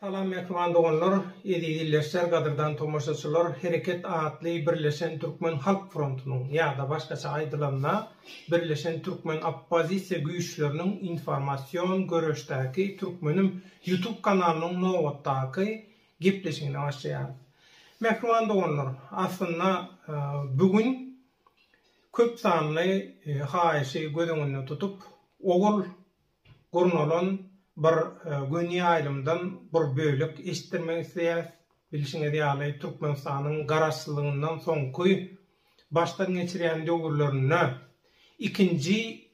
Salam mähriban doganlar, eziz ildeşler, gadyrdan tomaşaçylar, Hereket atly Birleşen Türkmen Halk Frontunyň ýa-da başgaça aýdylanda, Birleşen Türkmen Oppozisiýa Güýçleriniň Informasion Göreşdäki Türkmenim YouTube kanalynyň nobatdaky gepleşigine başlaýarys. Mähriban doganlar, aslynda bu gün köp sanly haýyşy göz öňünde tutup, owal gurnalan bir göni ýaýlymdan bir bölek eşitdirmek isleýäs. Bilşiňiz ýaly, Türkmenistanyň Garaşsyzlygyndan soňky başdan geçirýän döwürlerinde ikinji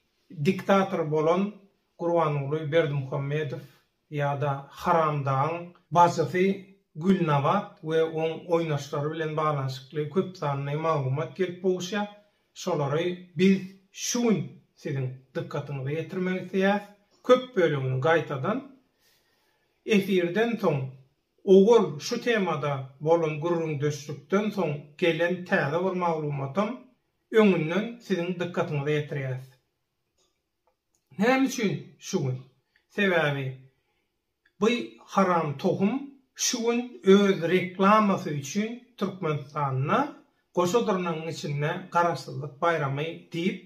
diktator bolan Gurbanguly Berdimuhamedow ýa-da Haramdagyň bajysy Gülnabat we oň oýnaşlary bilen baglanyşykly köp sanly maglumat gelip gowuşýar. Şolary biz şu gün siziň dykgatyňyza ýetirmek isleýäris. Köp bölegini gaýtadan efirden soň, owal şu temada bolan gürrüňdeşlikden soň gelen täze bir maglumatam öňünden siziň dykgatyňyza ýetirýäris. Näme üçin şu gün? Sebäbi bu haram tohum şu gün öz reklamasy üçin Türkmenistanda goşa dyrnagyň içinde Garaşsyzlyk baýramy diýip,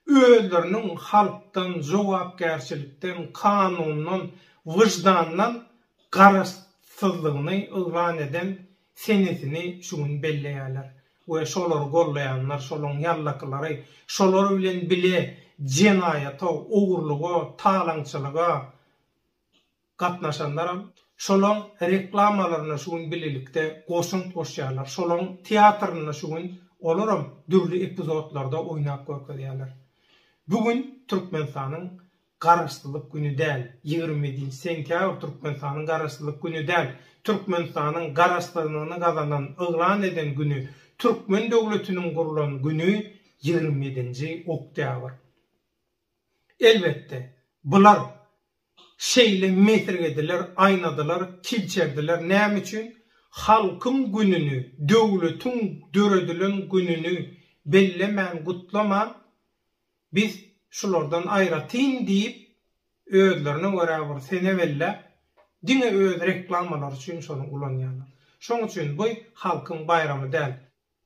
özleriniň halkdan, jogapkärçilikden, kanundan, wyždandan garaşsyzlygyny yglan eden senesini şu gün belleýärler we şolary gollaýanlar, şolaryň ýallakylary, şolar bilen bile jenaýata, ogurlyga, talaňçylyga gatnaşanlaram şolaryň reklamalaryna şu gün bilelikde goşant goşýarlar, şolaryň teatrynda şu gün olaram dürli epizodlarda oýnap görkezýärler. Bu gün Türkmenistanyň Garaşsyzlyk güni däl, ýigrimi ýedinji sentýabr Türkmenistanyň Garaşsyzlyk güni däl, Türkmenistanyň Garaşsyzlygyny gazanan, yglan eden güni, Türkmen döwletiniň gurlan güni ýigrimi ýedinji oktýabr. Elbetde, bular şeýle mesirgediler, aýnadylar, kilçerdiler näme üçin? Halkyň gününi, döwletiň döredilen gününi bellemän, gutlaman, Biz şulardan aýratyn diýip özlerine görä bir sene belläp diňe öz reklamalary üçin şony ulanýarlar. Şoň üçin buy halkyň baýramy däl.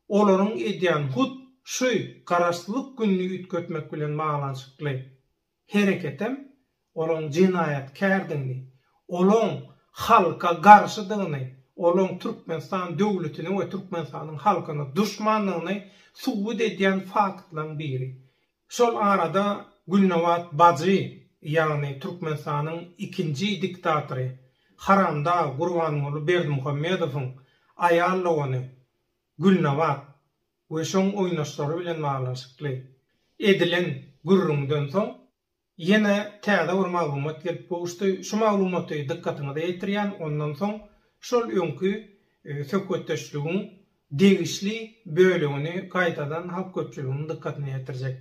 Olaryň edýän hut şuy garaşsyzlyk gününi üýtgetmek bilen baglanyşykly hereketem olaň jenaýatkärdigini, olaň halka garşydygyny, olaň Türkmenistan döwletini we Türkmenistanyň halkyny duşmandygyny subut edýän faktlaryň biri. Şol arada Gülnabat bajy, ýagny Türkmenistanyň ikinji diktatory, haramdag Gurbanguly Berdimuhamedowyň aýal dogany Gülnabat we şoň oýnaşlary bilen baglanyşykly edilen gürrüňden soň, Ýene täze bir maglumat gelip gowuşdy. Şu maglumaty dykgatyňyza ýetirýän, ondan soň şol öňki söhbetdeşligiň degişli bölegini gaýtadan halk köpçüliginiň dykgatyna ýetirjek.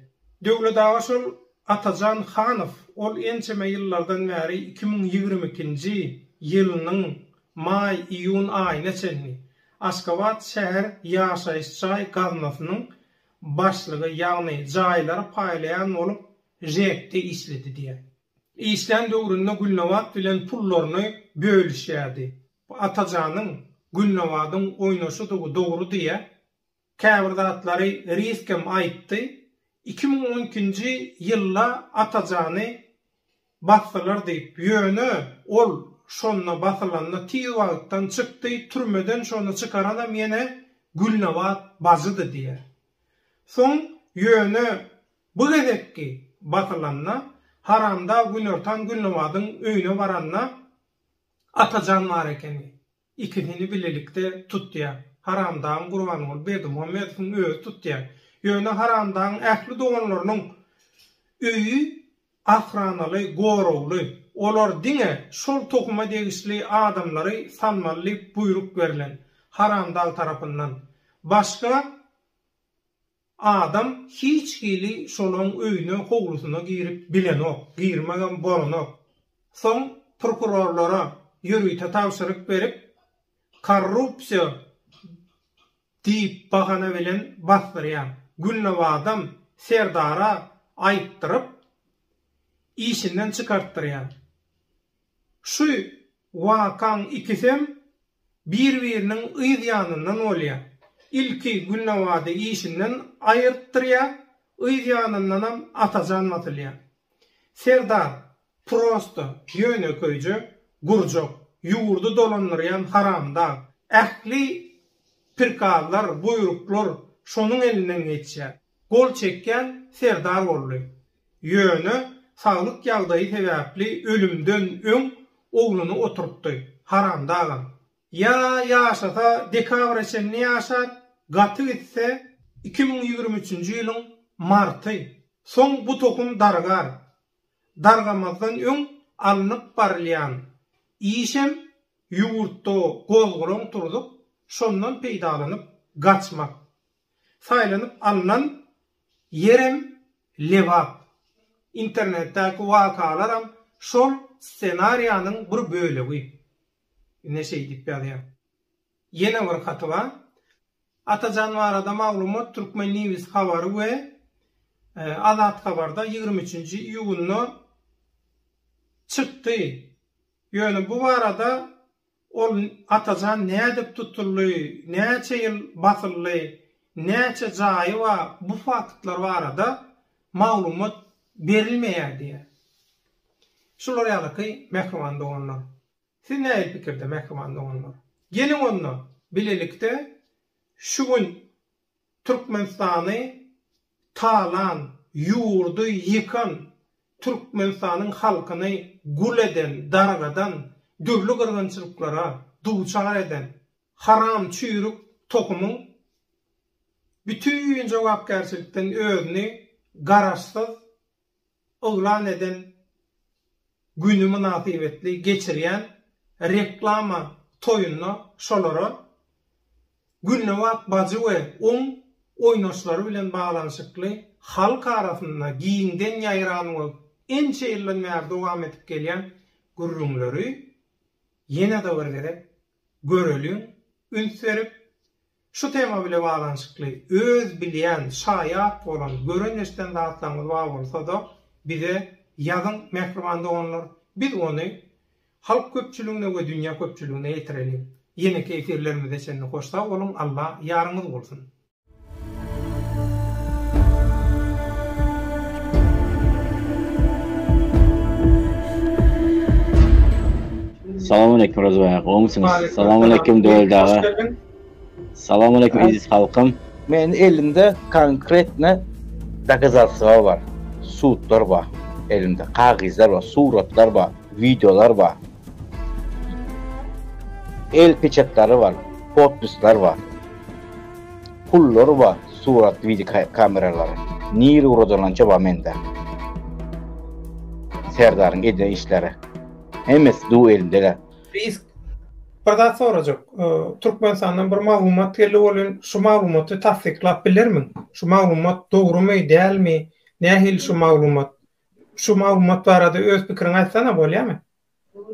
Döwlet aga şol Atajan Hanow ol ençeme ýyllardan bäri iki müň ýigrimi ikinji ýylynyň maý, iýun aýyna çenli Aşgabat şäher ýaşaýyş jaý gaznasynyň başlygy ýagny jaýlary paýlaýan bolup ŽEK-de işledi diýýär. Işlän döwründe Gülnabat bilen pullaryny bölüşýärdi. Bu Atajanyň Gülnabadyň oýnaşydygy dogry diýýär. Käbir zatlary Rizkem aýtdy. Iki müň on ikinji ýylda Atajany basdylar diýip, ýöne ol şonda basylanda tiz wagtdan çykdy, türmeden şony çykaranam ýene Gülnabat bajydy diýýär. Soň ýöne Bu gezekki basylanda Haramdag Günortan Gülnabadyň öýüne baranda Atajan bar ekeni. Ikisini bilelikde tutýar. Haramdagyň Gurbanguly Berdimuhamedowyň özi tutýar. Ýöne Haramdagyň ähli doganlarynyň öýi ahranaly, goragly. Olar diňe şol tohuma degişli adamlary salmaly diýip buýruk berlen Haramdag tarapyndan. Başga Adam hiç hili şolaň öýüne, howlusyna girip bilenok, girmegem bolanok. Soň prokurorlara ýörite tabşyryk berip, korrupsiýa diýip bahana bilen basdyrýan. Gülnawazam Serdara aýtdyryp, işinden çykartdyrýan. Şu Wakaň ikisem bir-biriniň yz ýanyndan bolýar. Ilki Gülnawady işinden aýyrtdyrýar, yz ýanyndanam Atajan basylýar. Serdar, prosta, ýönekeýje, gurjak, ýurdy dolandyrýan haramdag. Ähli prikazlar, buýruklar şonuň elinden geçýär. gol çekýän Serdar boldy. Ýöne saglyk ýagdaýy sebäpli ölümden öň ogluny oturtdy. Haramdagam. Ýa ýaşasa dekabra çenli ýaşar, gaty gitse iki müň ýigrimi üçünji ýylyň marty. Soň bu tohum dargar. Dargamazdan öň alnyp barylýan işem ýurtda gozgalaň turzup, şondan peýdalanyp gaçmak. Saýlanyp alnan ýerem Lebap. Internetdäki wakalaram şol ssenariýanyň bir bölegi. Ine şeý diýip ýazýar. Ýene bir haty bar. Atajan barada maglumat Turkmen News habary we Azat habarda ýigrimi üçünji iýunda çykdy. Ýöne bu barada Ol Atajan nädip tutuldy, näçe ýyl basyldy, näçe jaýy bar bu faktlar barada maglumat berilmeýär diýýär. Şular ýalyky mähriban doganlar. Siz nähili pikirde mähriban doganlar? Geliň onda bilelikde şu gün Türkmenistany talan, ýurdy ýykan, Türkmenistanyň halkyny gul eden, dargadan, dürli gyrgynçylyklara duçar eden haram çüýrük tohumyň bütin jogapkärçilikden özüni garaşsyz yglan eden güni mynasybetli geçirýän reklama toýunda şolara Gülnabat bajy we oň oýnaşlary bilen baglanyşykly halk arasynda giňden ýaýran we ençe ýyldan bäri dowam edip gelýän gürrüňleri ýene-de bir gezek göreliň, üns berip, Şu tema bile baglanyşykly, öz bilýän, şaýat bolan, gören-eşden zatlaryňyz bar bolsa-da, bize ýazyň, mähriban doganlar, biz ony halk köpçüligine we dünýä köpçüligine ýetireliň. Ýeneki efirlerimize çenli hoşsag boluň, Alla ýaryňyz bolsun! Salam aleýkum Rozybaý aga, goňsyňyz? Salam aleýkum Döwelt aga. Salam aleýkum eziz halkym. Meniň elimde konkretne dokazatstwa bar, sudlar bar elimde, kagyzlar bar, suratlar bar, wideolar bar. El peçatlary bar, podpisler bar. Pullar bar, surat wideo kameralary. Nir uradança bar mende. Serdaryň eden işleri. Hemesi du elimde. Risk Bir zat sorajak. Türkmenistandan bir maglumat geldi welin şu maglumaty tassyklap bilermiň? Şu maglumat dogrumy, dälmi? Nähili şu maglumat? Şu maglumat barada öz pikiriňi aýtsana bolýamy?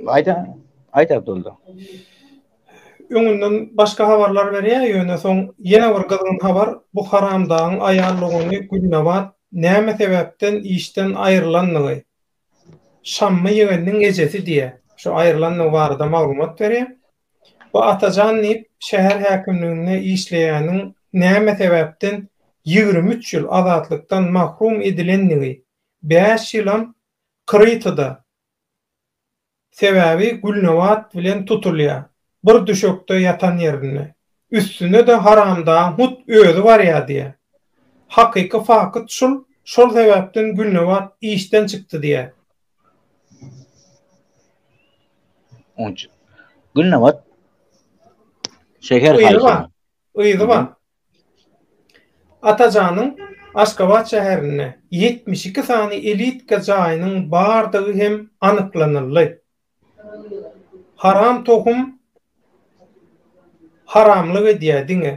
Aýda, aýt Abdulda. Öňünden başga habarlar berýär, ýöne soň ýene bir gyzgyn habar, bu haramdagyň aýal dogany Gülnabat näme sebäpden işden aýrylandygy, Şammy ýegeniniň ejesi diýýär. Şu aýrylandygy barada maglumat berýär. Bu Atajan diýip, şäher häkimliginde işleýäniň näme sebäpden ýigrimi üç ýyl azatlykdan mahrum edilendigi, bäş ýylam Krytyda Sebäbi Gülnabat bilen tutulýar. Bir düşekde ýatan ýerinde. Üstüne-de haramdagyň hut özi barýar diýýär. Hakyky fakyt şul, şol sebäpden Gülnabat işden çykdy diýýär. Gülnabat şeher haýsyna? Yzy bar. Yzy bar. Atajanyň Aşgabat şäherinde ýetmiş iki sany elitka jaýynyň bardygy hem anyklanyldy. Haram tohum haramlyk edýä diňe.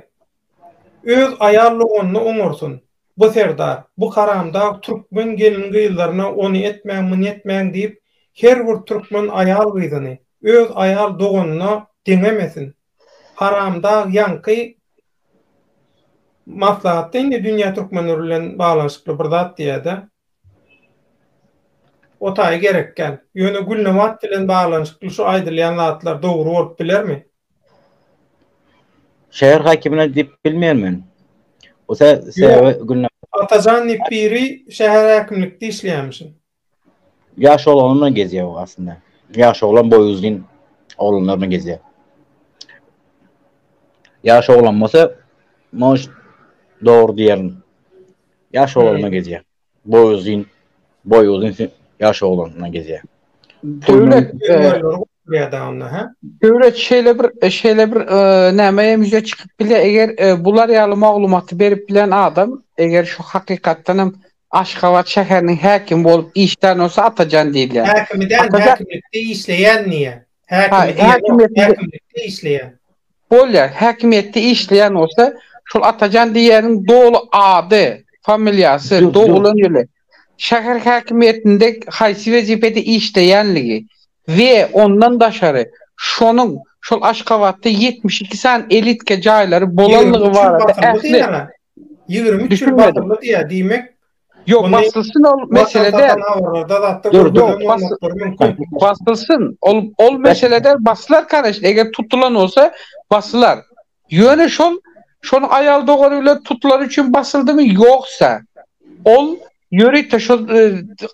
Öz aýal doganyny oňarsyn bu serdar, bu haramdag türkmen gelin gyzlaryna ony etmäň muny etmäň diýip her bir türkmen aýal gyzyny öz aýal doganyna deňemesin. Haramdag ýaňky maslahatda indi dünýä türkmenleri bilen baglanyşykly bir zat diýýärdi. O taýy gerekgän. Ýöne Gülnabat bilen baglanyşykly şu aýdylýan zatlar dogry bolup bilermi? Şäher häkimine diýip bilmeýän men. Ose sebäbi Gülnabat. Atajan diýip biri şäher häkimlikde işleýärmişin. Ýaş oglanlar bilen gezýär ol aslynda. Ýaş oglan boýy uzyn oglanlar bilen gezýär. Ýaş oglan bolsa, moş dogry diýerin. Ýaş oglan bilen gezýär. Boýy uzyn, boýy uzyn ýaş oglan bilen gezýär. Döwlet fermerleri gurýar-da onda, hä? Döwlet şeýle bir, şeýle bir näme hem ýüze çykyp bilýär, eger bular ýaly maglumaty berip bilen adam, eger şu hakykatdan hem Aşgabat şäheriniň häkimi bolup işlän bolsa Atajan diýilýär. Häkimi däl, Atajan häkimlikde işleýän diýýä. Ha, Häkimi diýen ýok, häkimiýetinde häkimlikde işleýän. Bolýar, häkimiýetde işleýän bolsa, şol Atajan diýýäniň doly ady, familiýasy, Ýok, ýok. doglan ýyly, şäher häkimiýetinde haýsy wezipede işleýänligi we ondan daşary şonuň şol Aşgabatda ýetmiş iki sany elitka jaýlary Ýigrimi bolanlygy üçüň barada bakylygy ähli, diýýäň-ä. Ýigrimi üç ýyl barmy diýýär, diýmek, Ýok, basylsyn ol mesele däl. Dur, dur, basylsyn, ol, ol mesele däl, basylar, kanyşn, eger tutulan bolsa, basylar. Ýöne şol, şonuň aýal dogany bilen tutulany üçin basyldymy, ýogsa, ol ýörite şol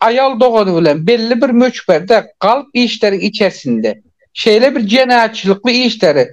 aýal dogany bilen belli bir möçberde galp işleriň içersinde, şeýle bir jenaýatçylykly işleri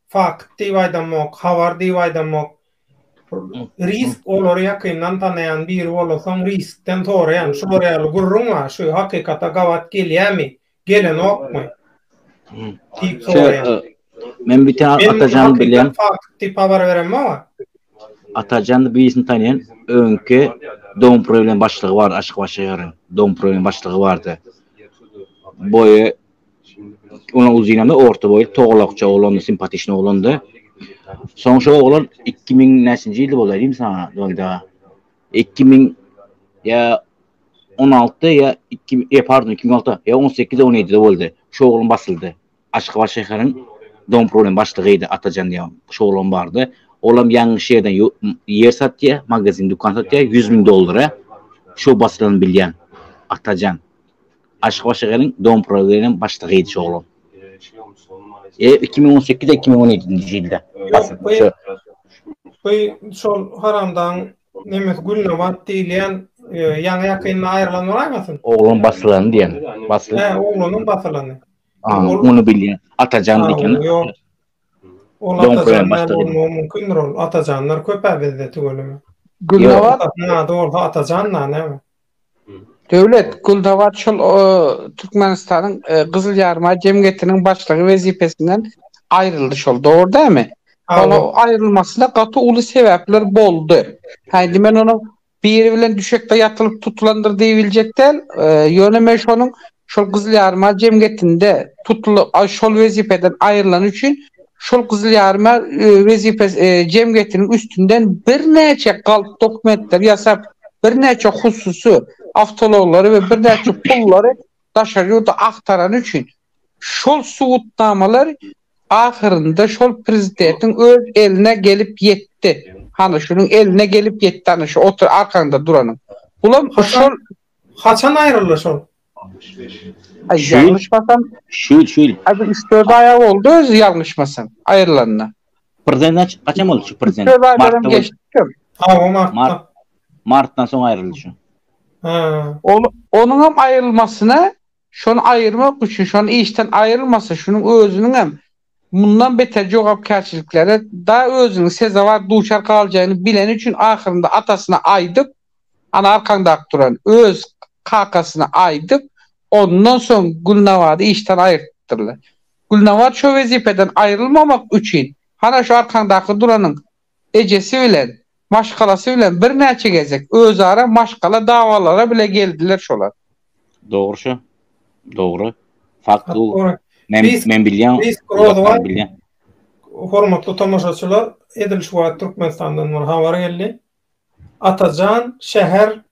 Fakt diýip aýdamok, habar diýip aýdamok. Risk olary ýakyndan tanaýan biri bolasoň riskden soraýan, şular ýaly gürrüň bar, şu hakykata gabat gelýämi, gelenokmy? Diýip soraýan. Men bir tane Atajan bilýän. Fakt diýip habar beremok. Atajan birisini tanýan, öňki dom problem başlygy bar, aşyk başa ýaran. Dom problem başlygy bardy. Boýy Onuň uzynam orta boýly, togalakja oglandy, simpatiçny oglandy. Soň şo oglan iki müň näçinji ýylda bolýar diýeyim saňa, Donda? Iki müň ýa on altyda ýa iki müň, ýa pardon, iki müň altyda, ýa on sekizde, on ýedide boldy. Şo oglan basyldy. Aşgabat şäheriň dompromy başlygydy, Atajan diýen şo oglan bardy. Olam ýaňy şu ýerden ýer satýar, magazin, dükan satýar, ýüz müň dollara. Şo basylany bilýän, Atajan. Aşgabat şäheriniň Domprovýanem başlygy idi şu oglan. E, iki müň on sekiz, iki müň on ýedinji ýylda. Bu şol haramdagyň nemes Gülnabat diýilýän ýaňy-ýakynda aýrylan bolaýmasyn? Oglan basylany diýen. He, oglanyň basylany. Ony bilýän. Atajan diýen. Ol Atajan bolmagy mümkindir ol. Atajanlar köp-ä bizde tüweleme. Gülnabat? Ady bolsa Atajan-da näme? Döwlet Guldawa şol o Türkmenistanyň e, Gyzyl Ýarymaý jemgyýetiniň başlygy wezipesinden aýryldy şol, dogry dämi? Ol Hawa. aýrylmasyna gaty uly sebäpler boldy. Häýndi men onuň biri bilen düşekde ýatylyp tutulandyr diýibiljek däl, e, ýöne men şonuň Şol Gyzyl Ýaryma jemgyýetinde tutulyp, a şol wezipeden aýrylany üçin şol Gyzyl Ýaryma wezipe jemgyýetiniň üstünden birnäçe galp dokumentleri ýasap, birnäçe hususy awtoulaglary we birnäçe pullary daşary ýurda agtarany üçin şol subutnamalar ahyrynda şol Prezidetiň öz eline gelip ýetdi. Hany şunuň eline gelip ýetdi hany şu otur arkaňda duranyň. Bulam şol Haçan aýryldy şol? Ýalňyşmasam, şu ýyl, şu ýyl. Hä, bir üç-dört aý boldy özi ýalňyşmasam, aýrylanyna. Prezident haç, haçan boldy şu prezident? Üç-dört aýlaram geçipdir. Hawa, martda. Martdan soň aýryldy şu. Hä. Ol, onuňam aýrylmasyna Şony aýyrmak üçin, şony işden aýrylmasa, şunuň özüniňem mundan beter jogapkärçiliklere da özüniň sezewar duçar galjagyny bileni üçin ahyrynda atasyna aýdyp, ana arkaňdaky duran, öz kakasyna aýdyp, ondan soň Gülnabady işden aýyrtdypdyrlar. Gülnabat şo wezipeden aýrylmamak üçin, hana şu arkaňdaky duranyň ejesi bilen, maşgalasy bilen birnäçe gezek özara maşgala dawalara bile geldiler şolar. Dogry şu. Dogry. Fakt bu. Men men bilýän zatlar bilýän. Hormatly tomaşaçylar edil şu wagt Türkmenistandan bir habar geldi. Atajan şäher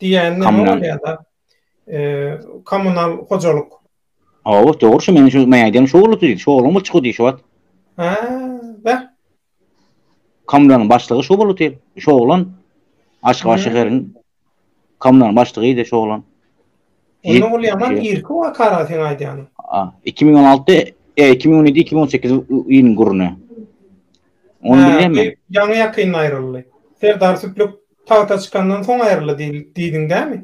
Diýen näme bolýar-da? Eee, kommunal hojalyk. Hawa, dogry şu meniň şu mäden şu bolupdy diýdi. Şu oglan bolupdy şu diýdi şu wagt. Ha, bä. Kommunalyň başlygy şu bolupdy. Şu oglan Aşgabat şäheriniň kommunalyň başlygydy şu oglan. Onda ol ýaman irki wakara sen aýdýanyň. A, 2016-da, e, 2017-2018 ýylyň gürrüni. Ony bilýänmi? Ýaňy ýakynda aýryldy. Serdar Süplük Tagta çykandan soň aýryldy diýdiň dämi?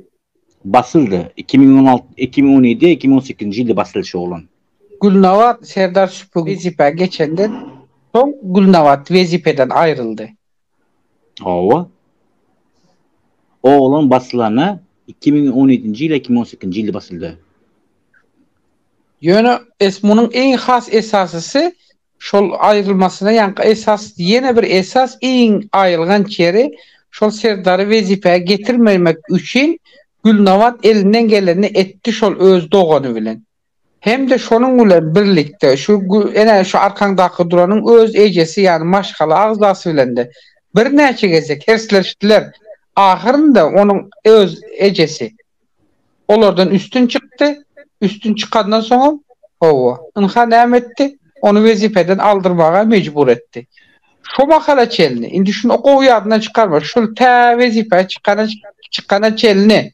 Basyldy. Iki müň on alty, iki müň on ýedi, iki müň on sekizinji ýylda basyldy şu oglan. Gülnabat Serdar Şüpü wezipä geçenden soň Gülnabat wezipeden aýryldy. Hawa. Oglan basylana iki müň on ýedinji ýyl ýa iki müň on sekizinji ýylda basyldy. Ýöne esmunyň iň has esasysy Şol aýrylmasyna ýaňky esas, ýene bir esas, iň aýylganç ýeri, şol Serdary wezipä getirmemek üçin Gülnabat elinden gelenini etdi şol öz dogany bilen. Hem-de şonuň bilen birlikde şu ene şu arkaňdaky duranyň öz ejesi ýany maşgala agzasy bilen-de birnäçe gezek hersleşdiler. Ahyrynda onuň öz ejesi. Olardan üstün çykdy, üstün çykandan soňam, hawa, ynha näme etdi, ony wezipeden aldyrmaga mejbur etdi. Şo mahala çenli, indi şuny gowy ýadyňdan çykarma, şul tä wezipä çykana çykana çenli,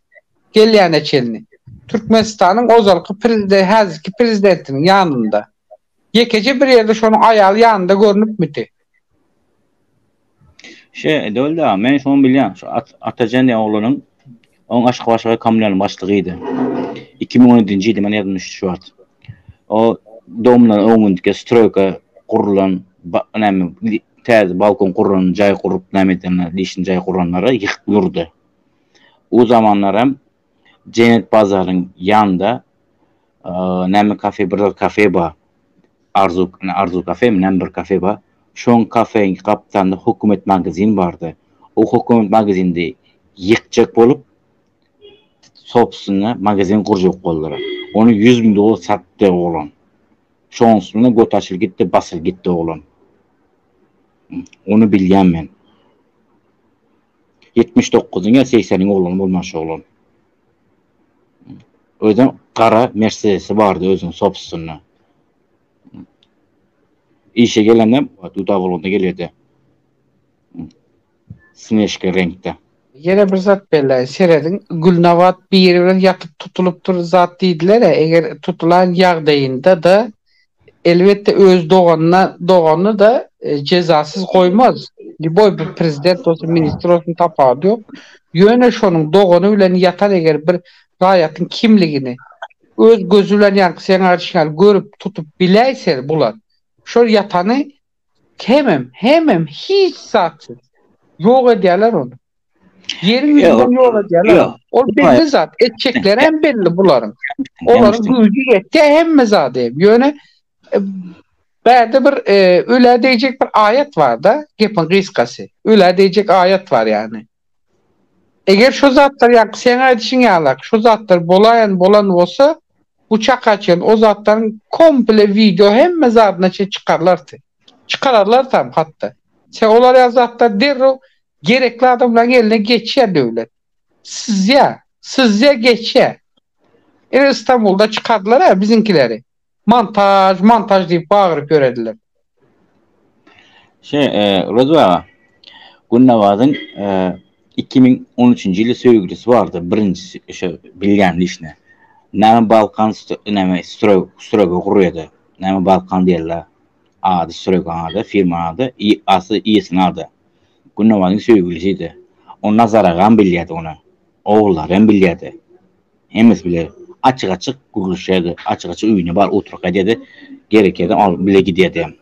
gelýäne çenli, Türkmenistanyň ozalky prezide häzirki prezidentiniň ýanynda, Ýekeje bir ýerde şonuň aýaly ýanynda görnüpmidi? Şe, edewelde, men şony bilýän, şu Atajan diýen oglanyň, onuň Aşgabatşaga kommunalyň başlygydy. Iki müň on ýedinji ýylda men ýadymda düşdi şu wagt. O domlaryň öňündäki stroýka gurlan näme, täze balkon gurlan jaý gurup näme edenler, işini jaý guranlary ýykyp durdy. O zamanlar hem Jennett bazaryň ýanynda näme kafe bir zat kafe bar. Arzu Arzu kafemi näme bir kafe bar. Şoň kafeň gapdalynda hokumet magazin bardy. O hokumet magazindi ýykjak bolup sopusyna magazin gurjak boldylar. Ony ýüz müň dollar satdy oglan. Şonsuna göti açylyp gitdi basylyp gitdi oglan. Ony bilýän men. Ýetmiş dokuzyň ýa segseniň oglany bolman şu oglan. Özem gara mersedesi bardy özüniň sobstwny. Işe gelende duda bolanda gelýärdi. Snežka reňkde. Ýene bir zat belläýin, serediň, Gülnabat biri bilen ýatyp tutulypdyr zat diýdiler-ä, eger tutulan ýagdaýynda-da, elbetde öz doganyna dogany da jezasyz goýmaz. Liboý bir prezident bolsun ministr bolsun tapawudy ýok. Ýöne şonuň dogany bilen ýatan eger bir raýatyň kimligini öz gözi bilen ýaňky seň aýdyşyň ýaly görüp tutup biläýse bular şol ýatany Hemem, hemem hiç zatsyz. Ýok edýärler ony. Ýeriň ýüzünden ýok edýärler ony. Ol belli zat. Etjekleri hem belli bularyň. Olaryň güýji ýetýär hemme zady hem. Ýöne bärde bir ölä deýjek bir aýat bar-da, gepiň gysgasy. Ölä deýjek aýat bar ýagny. Eger şo zatlar ýaňky seň aýdyşyň ýalak şo zatlar bolaýan bolan bolsa bu çaka çen o zatlaryň komple wideo hemme zadyna çen çykarlarty. Çykararlar tam hatda. Sen olar ýaly zatlar derrew gerekli adamlaryň eline geçýär Döwlet. Syzýar. Syzýar geçýär. Ine Istanbulda çykardylar-a biziňkileri. Montaž, montaž diýip bagyryp ýörediler. Şe, Rozi aga, Gülnabazyň iki müň on üçünji ýyly söýgülisi bardy, birinjisi, şo bilýän dişine. Näme Balkan näme Strog, Strogo gurýada, näme Balkan diýerler. Ady Strogo ady, firma ady, i, asly iýesiniň ady. Gülnabazyň söýgülisidi. Ony Nazar agam bilýärdi ony. Ogullary hem bilýärdi. Hemmesi bile açyk-açyk gürleşerdi, açyk-açyk öýüne bar oturyp gaýdardy, gerekirdi alyp bile giderdi hem.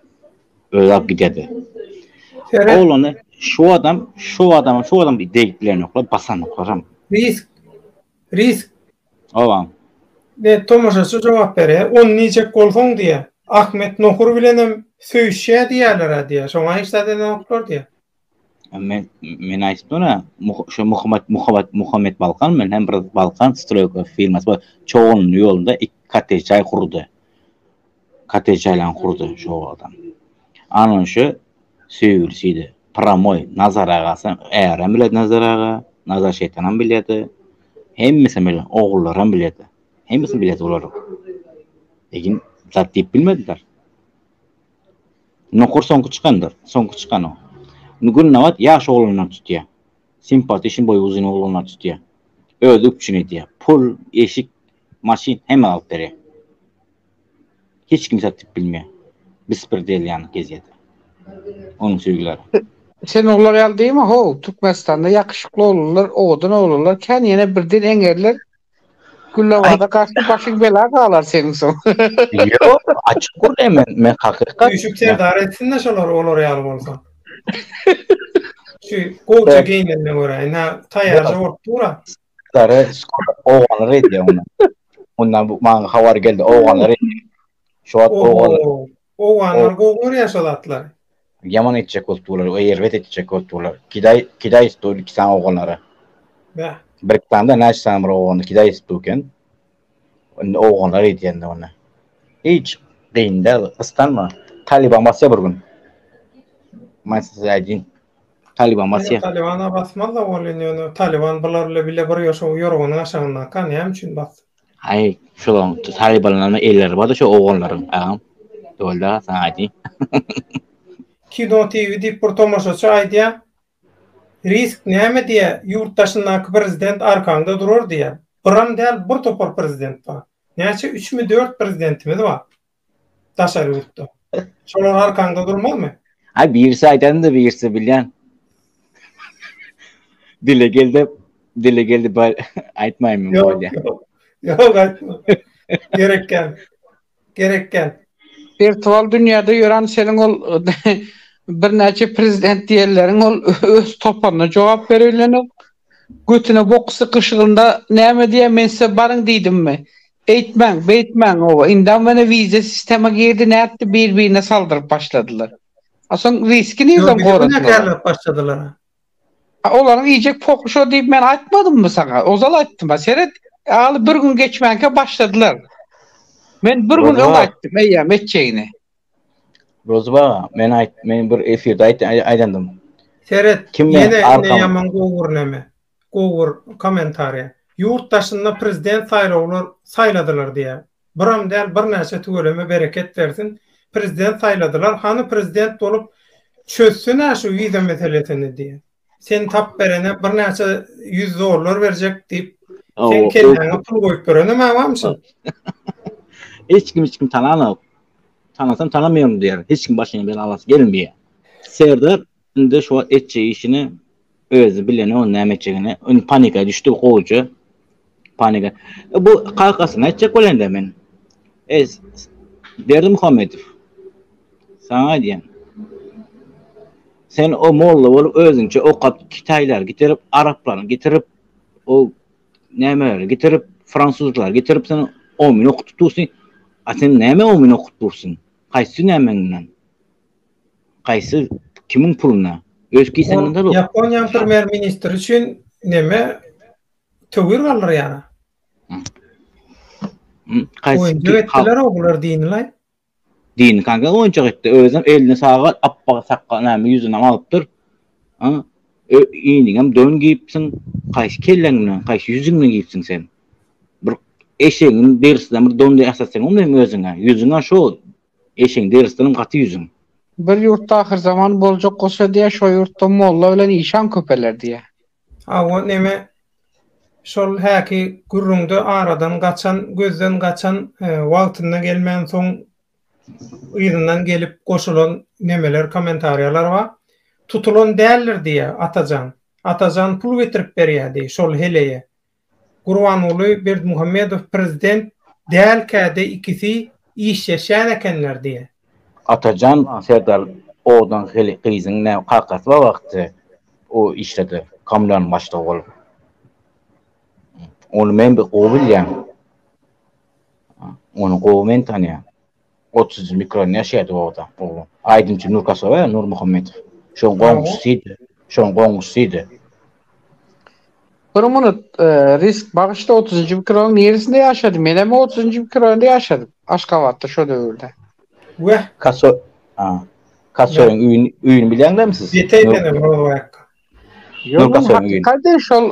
Özi alyp giderdi. Seret. Oglany şu adam, şu adama, şu adam degip bilenoklar, basanoklar hem. Risk. Risk. Oba. Be, tomaşaçy jogap berýär. Ony diýjek bolsaň diýýär. Ahmet Nohur bilenem söýüşýär diýýärler-ä diýýär. Şoňa hiç zat edenoklar diýýär. Men men aýdyp dura, şu Muhammet Muhammet Muhammet Balkan men hem bir Balkan stroýka firmasy bar. Çogunly ýolunda iki kottej jaý gurdy. Kottej jaýlaryny gurdy şu adam. Anan şu söýgülisiydi. Pramoy Nazar agasy, ärem bilen Nazar aga, Nazar şeýtanam bilýärdi. Hemmesi bilen ogullaram bilýärdi. Hemmesi bilýärdi olar. Egin zat diýip bilmediler. Nokur soňky çykandyr. Soňky çykan o. Gündogat ýaş oglanlar tutýar. Sympaty şin boýy uzyn oglanlar tutýar. Özi üpjün edýär. Pul, eşik, maşyn hemme alyp berýär. Hiç kim satyp bilmeýär. Bespredeliýany gezýärdi. Onuň söýgüleri. Sen oglar ýaly diýme ho, Türkmenistanda ýakşykly oglanlar, owadan oglanlar kän ýene birden eňerler, Ay, Güllawaza gaçyp başyň bela galar seň soň. Ýok, açyk gürrüň hemen, men hakykat. Üýşüp serdar etsin-de şolary olar ýaly bolsa. Şu gowja geýnenine görä, ine taýýarja bolup dur-a. Serdary skora owalar edýär onda. Onda maňa habar geldi, owalar edýär. Şu wagt owalar. Owganlar gowy görýär şo zatlary. Ýaman etjek bolup durlar we erbet etjek bolup durlar. Kidaý, kidaý etdi ol iki sany owganlary. Bä. Bir iki sany da näçe sany bir owgany kidaý etdi eken. Indi owganlar edýänini onda. Hiç gyn däl, gyssanma. Talyban basýar bir gün. Men size aýdýyn. Talyban basýar. Talybana basmaz-da ol indi ýöne Talyban bular bile bir ýoşa ýorganyň aşagyndaka näme üçin bassyn. Aý, şolaň talybanlaryň elleri bar-da şo oglanlaryň, agam. Öwelda saňa aýdýan. Kino TV diýip bir tomaşaçy aýdýar. Risk näme diýýär, ýurt daşyndaky prezident arkaňda durar diýýär. Biram däl, bir topar prezident bar. Näçe, üçmi, dört prezidentimiz bar. Daşary ýurtda. Şolar arkaňda durmazmy? Ha birisi aýdanda birisi bilýän. Dile geldi, dile geldi bar aýtmaýmyn bolýa. Ýok aýtma. Gerek gel. Gerek gel. Wirtual dünýäde ýören seniň ol birnäçe prezident diýenleriň ol öz toparyna jogap bere bilenok. Götüne bok sykyşygynda näme diýýä men size baryň diýdimmi? Eýtmäň, beýtmäň oba, indam menä wize sistema girdi nätdi bir birine saldyryp başladylar. A soň riski Ýo nirden bize göne goradylar a? kärläp başladylar a. A olaryň iýjek poky şo diýip men aýtmadymmy saňa? Ozal aýtdym a seret aly bir gün geçmänkä başladylar. Men bir gün Rozuba öň aga. aýtdym eýýäm etjegini. Rozuba aga, men aýt men bir efirde aýt aýdandym. Seret, Kim bilen ýene ine arkaň ýaman gowy gurneme. Gowur komentariýa. Ýurt daşynda prezident saýlawlar saýladylar diýä. Biram däl birnäçe tüweleme bereket bersin. Prezident saýladylar hany prezident bolup çözsene şu wiza meselesini diýä. Sen tap berene birnäçe ýüz dollar berjek diýip seň kelläňe pul goýup berenem abam şol. Hiç kim hiç kim tananok. Tanasam tanamaýaryn diýer. Hiç kim başyňy belalasy gelmeýär. Serdar Indi şo etjek işini özi bileni ony näme etjegini. Indi panika düşdi gowuja. Panika. E, bu kakasyna etjek bolanda men. E, Berdi Muhammedow. Saňa aýdýan. Sen o molla bolup özüňçe okap kitaýlar getirip, araplaryny getirip, o nämeleri getirip, fransuzlary getirip sen omyn okutyp dursyň. A sen näme omyn okutyp dursyň? Haýsy nämeňden? Gaýsy kimiň puluna? Öz kiseňden zalog. Ýaponiýanyň premýer ministri üçin neme töwir galdyrýar. Oýunjak etdiler o bular dinilay. Dini kanka oýunjak etdi özem eline sagat appak sakga näme ýüzüne galypdyr. A iniňem don giyipsiň kaýsy kelleň bilen kaýsy ýüzüň bilen giyipsiň sen. Bir eşegiň derisinden bir don diýip asasyň bolmaýmy özüňe ýüzüňe şo Eşiň deris dilim gaty ýüzüň. Bir ýurtda ahyrzaman boljak bolsa diýä şo ýurtda molla bilen işan köpeler diýä. Hawa neme şol häki gürrüňde aradan gaçan gözden gaçan wagtynda gelmän soň yzyndan gelip goşulan nemeler komentariýalar bar tutulan däldir diýä Atajan Atajan pul getirip berýä diý şol heleýe Gurbanguly Berdimuhamedow prezident dälkäde ikisi işleşýän ekenler diýe. Atajan Serdar Odan hili gyzyň näme kakasy bar wagty o işledi kommunalyň başlygy bolup. Ony men bir gowy bilýän. Ony gowy men tanýan. 30 ýyl Ukrainada ýaşaýardy o adam, oglan. Aýdymçy Nurkasowa, Nurmuhammedow. Şoň goňşusydy. Şoň goňşusydy. Bir minut, e, risk bagyşda otuzynjy mikrorayonyň neresinde ýaşady? Men hem otuzynjy mikrorayonda ýaşadym. Aşgabatda şo döwürde. Weh. Kaso a. Kasoyň öýüni öýüni bilýäňizmi siz? Ýetäý meni Rowaýak. Ýok, Kasoyň öýüni. Hakykatdan şol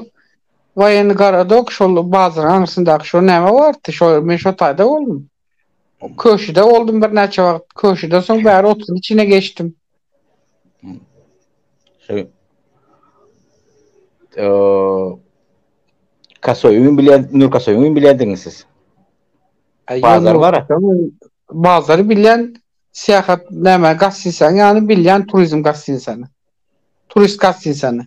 Waýenny Garadok şol bazaryň aňyrsyndaky şo näme bardy? Şo men şo taýda boldum. Köşüde boldum birnäçe wagt. Köşüden soň bäri otuzyň içine geçdim. Şey, eee, Kasoýuň bilen Nur Kasoýuň bilendiňiz siz. Bazar bara. Bazary bilen syýahat näme gastinsany ýany bilýän turizm gastinsany. Turist gastinsany.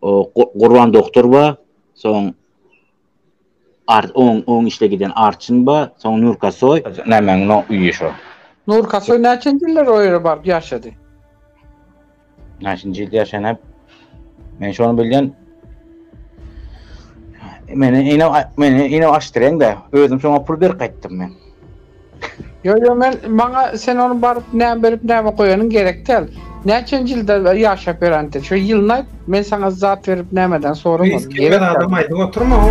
O Gurban doktor ba, soň Art on on işle giden Arçyn ba, soň Nurkasoý. Nämäň no uýy şo? Nurkasoý näçenji ýyllar o ýere baryp ýaşady? Näçenji ýyl ýaşany? Men şony bilýän. Meni ine meni ine aşdyryň-da, özüm şoňa pul berip gaýtdym men. Ýok ýok men maňa sen ony baryp näme berip näme goýanyň gerek däl. Näçenji ýylda ýaşap ýöräňdir. Şo ýylyny aýt men saňa zat berip nämeden Reis soramadym gelmez gerek däl. adam aýdyp oturma ho.